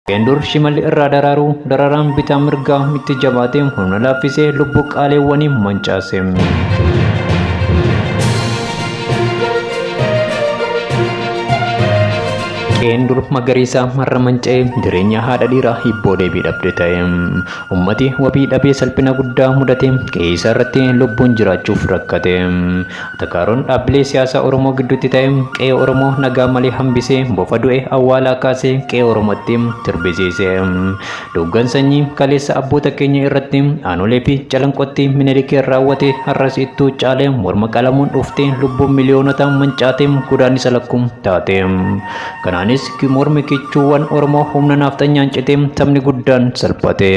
Isheen dur shimalli irraa daraaru dararaan bitaa mirgaa itti jabaatee humna laaffisee lubbuu qaaleewwanii mancaase. Qe'een dur magariisaa marra manca'ee jireenya haadha dhiiraa hibboo deebii dhabde ta'e. Ummati wabii dhabee salphina guddaa mudatee qe'ee isaa irratti lubbuun jiraachuuf rakkate. Takaaroon dhaabbilee siyaasaa Oromoo gidduutti ta'e qe'ee Oromoo nagaa malee hambisee bofa du'e awwaalaa kaasee qe'ee Oromootti sirbisiise. Duuggan sanyii kaleessa abboota keenya irratti aanolee fi calanqootti Minilikiin raawwate har'as ittuu caalee morma qalamuun dhuftee lubbuun miliyoonotaa mancaatee godaannisa lakkuu taate. Kanaanis mormi kichuuwwan Oromoo humna naafxanyaan citee sabni guddaan salphate.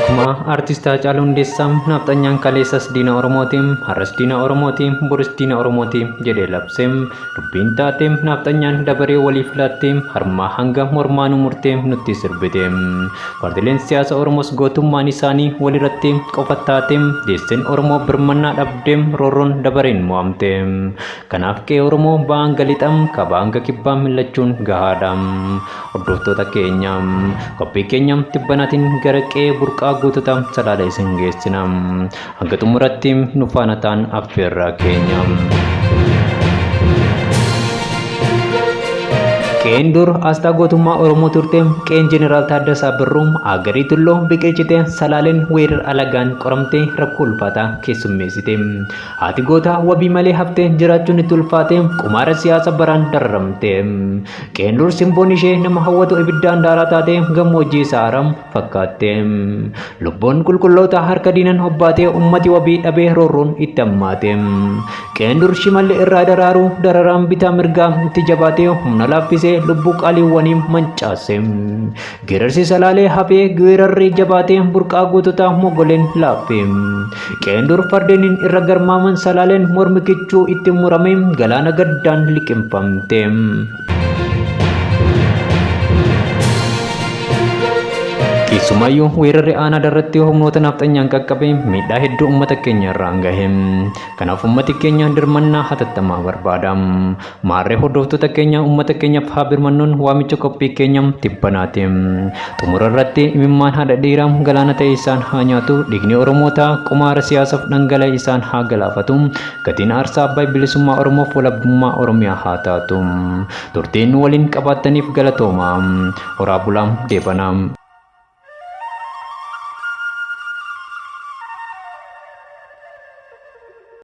Akkuma artist Haacaaluu Hundeessaa naafxanyaan kaleessas diina Oromooti, har'as diina Oromooti, boris diina Oromooti jedhee labse. Dubbiin taate naafxanyaan dabaree waliif laattee harmaa hanga mormaa nu murtee nutti sirbite. Paartileen siyaasa Oromoos gootummaan isaanii walirratti qofa taate deesseen Oromoo birmannaa dhabdee roorroon dabareen mo'amte. Kanaaf qe'ee Oromoo Ba'aa hanga Lixa, Kaabaa hanga Kibbaa millachuun gahaadha. Hordoftoota keenya, qophii keenya tibbanaatiin gara qe'ee burqaa gootota Salaalee isin geessina. Hanga xumuratti nu faana ta'aan affeerraa keenya. Qeen dur asxaa gootummaa Oromoo turte qeen Jeneraal Taaddasaa Birruu Agarii Tulloo biqilchite Salaaleen weerar alagaan qoramtee rakkoo ulfaataa keessummeessite. Haati gootaa wabii malee haftee jiraachuun itti ulfaatee qumaara siyaasa baraan dararamte. Qeendur simboon ishee nama hawwatu ibiddaan daaraa taatee gammoojjii sahaaraa fakkaatte. Lubbuun qulqulloota harka diinan hobbaatee ummati wabii dhabee roorroon itti hammaate. Qeendur shimalli irraa daraaruu dararaan bitaa mirgaa itti jabaatee humna laaffisee lubbuu qaaliiwwanii mancaase. Geerarsi salaalee hafee geerarri jabaatee burqaa goototaa mogoleen laaffee. Qe'een dur fardeeniin irra garmaaman salaaleen mormi kichuu itti muramee galaana gaddaan liqimfamte. Keessumaayyuu weerarri aanaa irratti humnoota nafxanyaan qaqqabe miidhaa hedduu uummata keenya irraan gahe. Kanaaf uummati keenya dirmannaa hatattamaa barbaada. Maarree hordoftoota keenya uummata keenyaaf haa birmannuun waamicha qophii keenya tibbanaati. Xumura irratti imimmaan haadha dhiiraa galaana ta'e isaan haa nyaatu, dhiigni Oromootaa qumaara siyaasaaf dhangala'e isaan haa galaafatu, gatiin aarsaa Abbaay bilisummaa Oromoof walabummaa Oromiyaa haa taatu. Turtii nu waliin qabaattaniif galatoomaa. Horaa bulaa deebanaa.